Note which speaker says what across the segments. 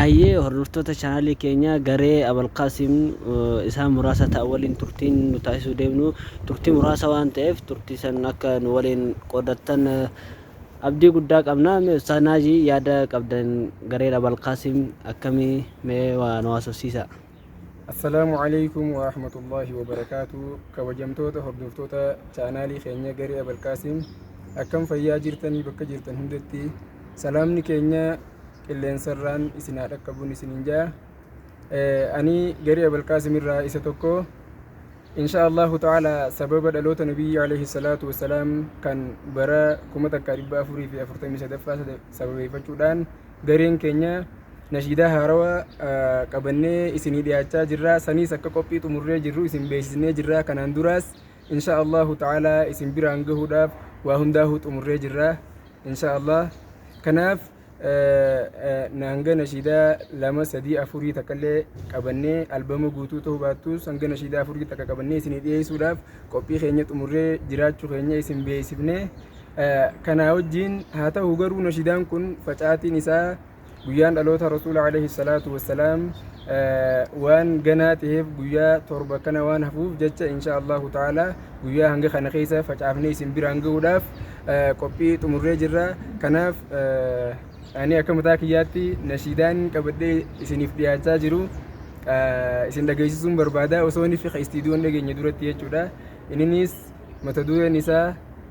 Speaker 1: Hayyee hordoftoota channel keenyaa garee Abalqaasim isaan muraasa ta'an waliin turtiin nu taasisuu deemnu turtii muraasa waan ta'eef turtii san akka nu waliin qoodattan abdii guddaa qabna. Mee Ustaaz Naajii yaada qabdan gareen Abalqaasim akkamii mee waa nu haasofsiisaa. Assalaamu
Speaker 2: Aleykum Warahmatullaahi Wabarakaatuh Kabajamtoota hordoftoota chaanaalii keenya Garee Abalqaasim akkam fayyaa jirtanii bakka jirtan hundatti salaamni keenya qilleensarraan isin haa dhaqqabuun isiniin jaa ani Garee Abalqaasim irraa isa tokko insha Allahu ta'ala sababa dhaloota nabiyyi alayhi salaatu wassalaam kan bara 1443ffaa sababeeffachuudhaan gareen keenya nashiidaa haarawaa ah, qabannee isinii dhiyaachaa jirra saniis akka qophii xumurree jirru isin beeksisnee jirra kanaan duraas insha allahu ta'ala isin biraan gahuudhaaf waa hundaahuu xumurree jirra insha allah kanaaf eh, eh, na hanga nashiidaa lama sadii afurii takkallee qabannee albama guutuu ta'uu baattus hanga nashiidaa afurii takka qabannee isinii dhiyeessuudhaaf qophii keenya xumurree jiraachuu keenya isin beeksifnee Kanaa wajjiin haa ta'u garuu nashidaan kun facaatiin isaa guyyaan dhaloota rasuula alayhi salaatu wassalaam waan ganaa ta'eef guyyaa torba kana waan hafuuf jecha insha Allahu ta'ala guyyaa hanga kana keessa facaafnee isin biraan ga'uudhaaf qophii xumurree jirra kanaaf ani akka mataa kiyyaatti nashiidaan qabadhee isiniif dhiyaachaa jiru isin dhageessisuun barbaada osoo inni fiqa istiidiyoon dhageenye duratti jechuudha inninis mata dureen isaa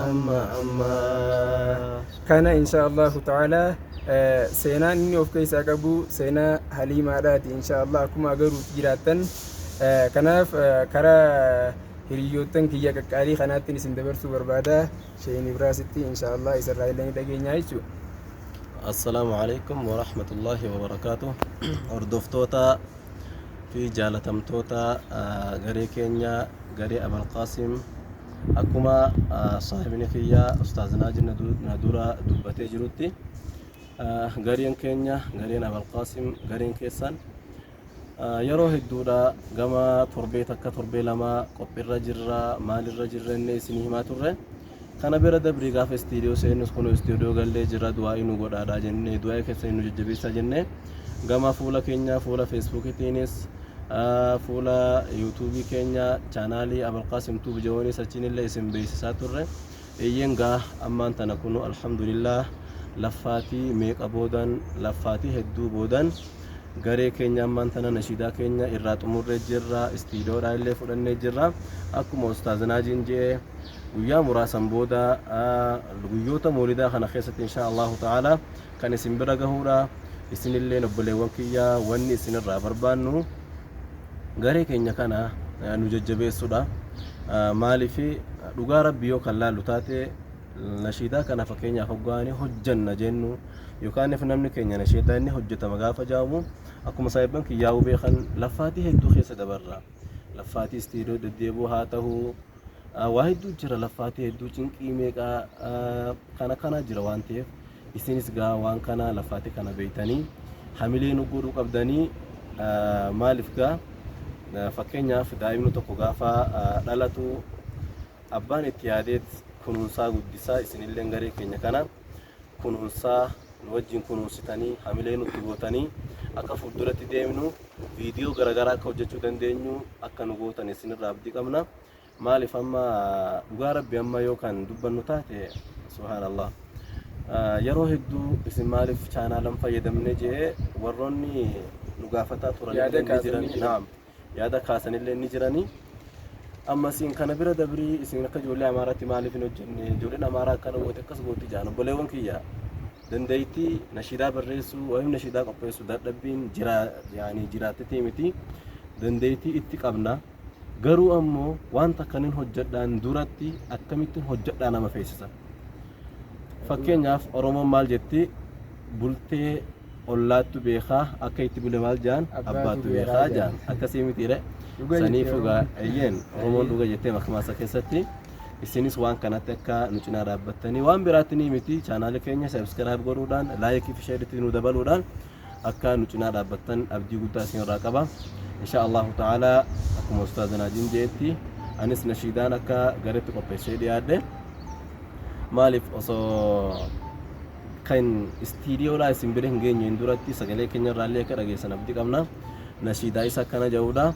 Speaker 3: amma amma.
Speaker 2: Kana inshaa Allahu ta'aalaa eh, seenaan inni of keessaa qabu seenaa haliimaadhaati inshaa Allah akkuma agaruuf jiraattan Eh, kanaaf eh, karaa hiriyoottan kiyya qaqqaalii kanaattiin isin dabarsuu barbaada sheen ibraasitti inshaa Allah isarraa illee ni dhageenya jechuudha. Assalaamu
Speaker 3: alaikum wa rahmatullahi wa barakaatu. Hordoftoota fi jaalatamtoota ah, garee keenya garee Abal Qaasim Akkuma saahibni kiyya Ustaaz Naaji na dura dubbatee jirutti gariin keenya gariin Abalqaasim gariin keessan yeroo hedduudha gama torbee takka torbee lama qophiirra jirra maalirra jirra inni isin himaa turre kana bira dabrii gaafa istiidiyoo seennus kun istiidiyoo gallee jirra du'aa'ii nu godhaadha jennee du'aa'ii keessan nu jajjabeessaa jennee Gama fuula keenya fuula Feesbuukitiinis fuula yuutuubii keenya chaanaalii Abalqaasim Tuub Jawoonis achiinillee isin beeksisaa turre. Eeyyeen gaa ammaan tana kunu alhamdulillah laffaatii meeqa boodan laffaatii hedduu boodan garee keenya ammaan tana nashiidaa keenya irraa xumurree jirra istiidoodhaa illee fudhannee jirra akkuma ustaaz naajiin je'e guyyaa muraasan booda guyyoota moolidaa kana keessatti inshaa allahu ta'ala kan isin bira gahuudha isinilleen obboleewwan kiyya wanni isin irraa barbaannu garee keenya kana eh, nu jajjabeessuudha Eh, maaliif eh, dhugaa rabbi yoo kan laallu taate nashiidaa kana fakkeenyaaf hoggaanii hojjanna jennu yookaanif namni keenya nashiidaa inni hojjetama gaafa jaamu akkuma saahibban kiyyaa hubee kan laffaatii hedduu keessa dabarra laffaatii istiidoo deddeebuu haa ta'u Ah, waa hedduu jira laffaatii hedduu cinqii meeqaa ah, kana kana jira waan ta'eef Isinis gaa waan kana lafaati kana beeytanii hamilee nu godhuu qabdanii maalif gaa fakkeenyaaf daa'imni tokko gaafa dhalatu abbaan itti yaadeet kunuunsaa guddisaa isinilleen garee keenya kana kunuunsaa nu wajjin kunuunsitanii hamilee nutti gootanii akka fuulduratti deemnu viidiyoo garaagaraa akka hojjechuu dandeenyu akka nu gootan isinirraa abdii qabna. Maalif amma dhugaa rabbi amma yoo kan dubbannu taate subhaanallah yeroo hedduu isin maalif chaanaalan fayyadamne jee warroonni nu gaafataa turan Yaada illee ni kaasan jiran ni jiran. naam yaada kaasan illee ni jiranii amma isin kana bira dabrii isin akka ijoollee amaaraatti maaliif hin hojjenne ijoolleen amaaraa akkana goote akkas goote jedhan obboleewwan kiyya dandeettii nashiidaa barreessuu waa'ee nashiidaa qopheessuu dadhabbiin jiraa yaanii jiraattetii miti dandeettii itti qabna Garuu ammoo waan takka nin hojjedhaan duratti akkamittin hojjedhaa nama feesisa. Fakkeenyaaf Oromoon maal jetti bultee ollaattu beekaa akka itti bule maal jaan abbaattu beekaa jaan akkasii mitiire sanii fugaa eyyeen Oromoon dhuga jettee makmaasa keessatti isinis waan kanatti akka nu cinaa dhaabbattanii waan biraatti ni miti chaanaali keenya sabskiraayib godhuudhaan laayikii fi sheeritti nu dabaluudhaan akka nu cinaa dhaabbattan abdii guddaa isin irraa qaba insha Allahu ta'ala akkuma ustaaza naajiin jeetti anis nashiidaan akka garetti qopheessee dhiyaadhe maaliif osoo kan istiidiyoodhaa isin bira hin geenye hin duratti sagalee keenya irraallee akka dhageessan abdii qabna nashiidaa isa akkana ja'uudha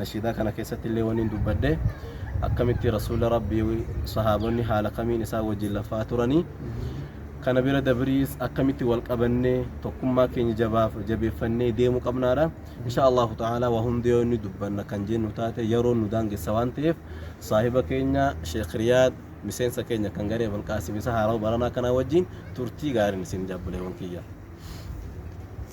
Speaker 3: nashiidaa kana keessatti illee waniin dubbadhe akkamitti rasuula rabbii sahaabonni haala kamiin isaa wajjin lafaa turanii kana bira dabriis akkamitti wal qabannee tokkummaa keenya jabaaf jabeeffannee deemuu qabnaadha insha allahu ta'ala waa hundi yoo inni dubbanna kan jennu taate yeroo nu daangessa waan ta'eef saahiba keenya sheekh riyaad miseensa keenya kan garee balqaasim isa haarawa baranaa kanaa wajjin turtii gaariin isin jabbuleewwan kiyya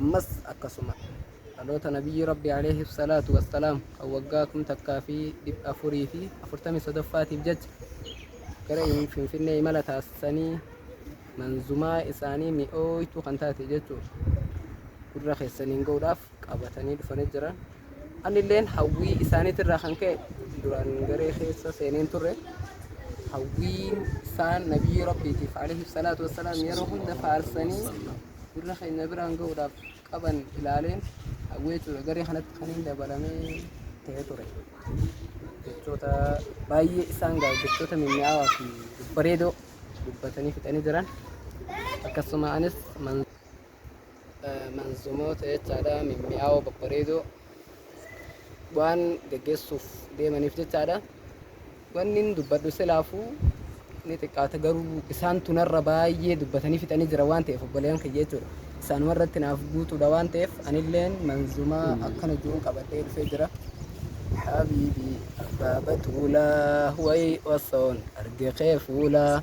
Speaker 4: ammas akkasuma dhaloota nabiyyi rabbi alayhi salaatu wassalaam kan waggaa kum takkaa fi dhibba afurii fi afurtamii sodoffaatiif jecha gara finfinnee imala taasisanii manzumaa isaanii mi'ooytuu kan taate jechuu gurra keessaniin ga'uudhaaf qabatanii dhufanii jiran anilleen hawwii isaaniitirraa kan ka'e duraan garee keessa seeneen turre hawwiin isaan nabiyyi rabbiitiif alayhi salaatu wassalaam yeroo hunda faarsanii gurra keenya biraan ga'uudhaaf qaban ilaaleen hawwee ture garee kanatti kan hin dabalamee ta'ee ture jechoota baay'ee isaan ga'a jechoota mi'aawaa fi bareedoo dubbatanii fixanii jiran akkasuma anis man- eh, manzumoota jechaadha mi'aawoo babbareedoo waan geggeessuuf deemaniif jechaadha Wannin dubbadhu silaafuu ni xiqqaata garuu isaantu narra baay'ee dubbatanii fixanii jira waan ta'eef obboleeyyan kiyya jechuudha. Isaanuma irratti naaf guutuudha waan ta'eef anilleen manzumaa akkana jiruun qabadhee dhufee jira. Habiibii abbaa batuulaa way osoon arge kee fuulaa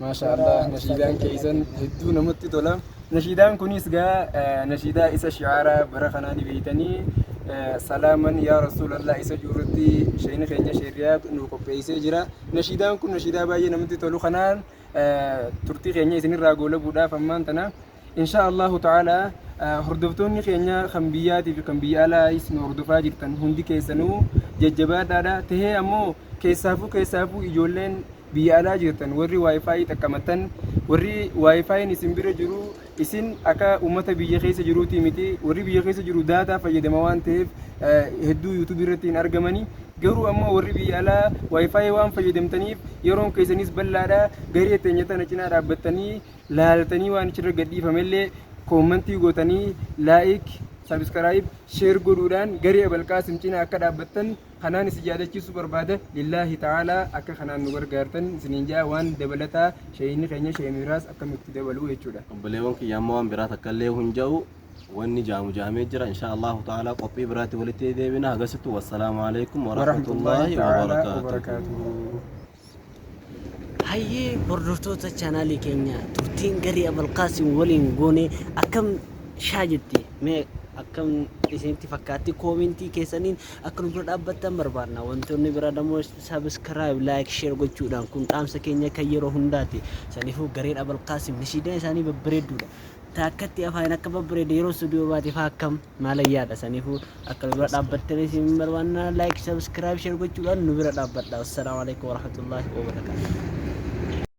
Speaker 4: Maashaa Allah
Speaker 2: nashiidaan keessan hedduu namatti tola. Nashiidaan kunis gaa eh, nashiidaa isa shi'aara bara kanaa ni beeytanii eh, salaaman yaa rasuulallah isa jirutti sheeyni keenya sheerriyaa nu qopheessee jira. Nashiidaan kun nashiidaa baay'ee namatti tolu kanaan eh, turtii keenya isinirraa goolabuudhaaf ammaan tana Inshaa Allahu ta'aalaa hordoftoonni keenya kan biyyaatii fi kan biyya alaayis nu hordofaa jirtan hundi keessanuu jajjabaadhaadha. Tahee ammoo keessaafuu keessaafuu ijoolleen biyya alaa jirtan warri waayifaayi xaqqamattan warri waayifaayin isin bira jiru isin akka uummata biyya keessa jiruutii miti warri biyya keessa jiru daataa fayyadama waan ta'eef hedduu yuutuubii irratti hin argamani garuu ammoo warri biyya alaa waayifaayi waan fayyadamtaniif yeroon keessanis bal'aadha garee teenya tana cinaa dhaabbattanii laaltanii waan achirra gadhiifame illee koommantii gootanii laayik, sabiskaraayib, sheer godhuudhaan garee Abalqaasim cina akka dhaabbattan kanaan isin yaadachiisuu barbaada. Lillaahi ta'aalaa akka kanaan nu gargaartan isiniin ja'a waan dabalataa sheeyinni keenya sheemiraas akka nutti dabaluu jechuudha. Obboleewwan kiyya amma waan
Speaker 3: biraa takka illee hin ja'u wanni ja'amu ja'amee jira inshaa Allahu ta'aalaa qophii biraatti walitti deebina hagasittu wassalaamu alaikum wa rahmatullaahi wa barakaatuhu.
Speaker 1: Hayyee hordoftoota chaanaalii keenya turtiin garii Abalqaasim waliin goone akkam shaa jetti mee akkam isinitti fakkaatti koomentii keessaniin akka nu bira dhaabbattan barbaadna wantoonni bira damoo sabiskiraayib laayik sheer gochuudhaan kun dhaamsa keenya kan yeroo hundaati saniifuu gareen Abalqaasim nishiidaa isaanii babbareedduudha taakkatti afaan akka babbareede yeroo stuudiyoo baate faa akkam Maal ayyaadha saniifuu akka nu bira dhaabbattanii isin hin barbaanna like subscribe share gochuudhaan nu bira dhaabbadha. Assalaamu alaikum warahmatullaahi wabarakaatuh.